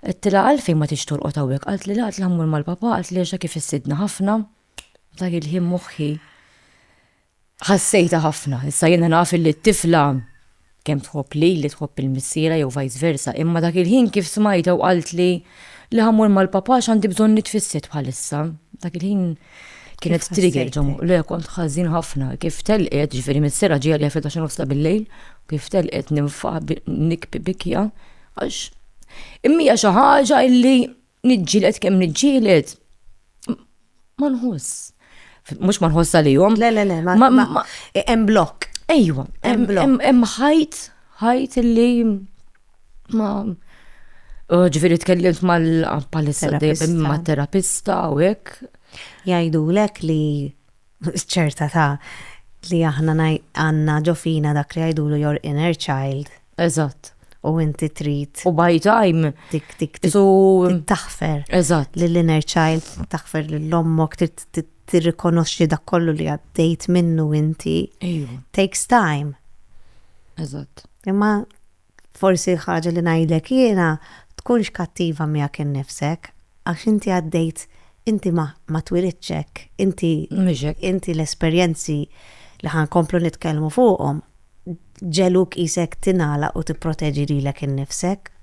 Għedtilha għalfejn ma tix torqod hawnhekk qaltli le għedtilha mmur mal-papà qaltli għax dak ifissidna ħafna. Dak il-ħin moħħi ħassejta ħafna. Issa jiena naf li t-tifla kemm tħobb lili tħobb il-missiera jew vice versa imma dak il-ħin kif smajtha u qaltli li ħammur mal-papà għax għandi bżonn nitfissed bħalissa. Dak il-ħin Kienet trigger ġomu, le kont ħażin ħafna, kif telqet, ġifieri mis-sera ġie għalija fil-taxin nofsa bil-lejl, kif telqet ninfa nikbi bikja, għax immija xi ħaġa illi niġġielet kemm niġġielet ma nħoss. Mhux ma nħoss għalihom. Le, le, le, ma hemm blokk. Ejwa, hemm ħajt, ħajt illi ma uh, ġviri tkellimt mal palissa ma terapista u hekk. Jajdu lek li ċerta ta' li aħna għanna ġofina dak li jajdu l your inner child. Eżatt. U inti trid. U by time. Tik tik tik. Taħfer. Eżatt. L-inner child taħfer l-lommok trid tirrikonoxxi dak kollu li għaddejt minnu inti. Takes time. Eżatt. Imma Forsi l-ħaġa li ngħidlek jiena, tkunx kattiva miegħek innifsek, għax inti għaddejt, inti ma, ma twilidtx hekk, inti, inti l-esperjenzi li ħa nkomplu nitkellmu fuqhom, ġegħluk qisek tingħalaq u tipproteġi lilek innifsek.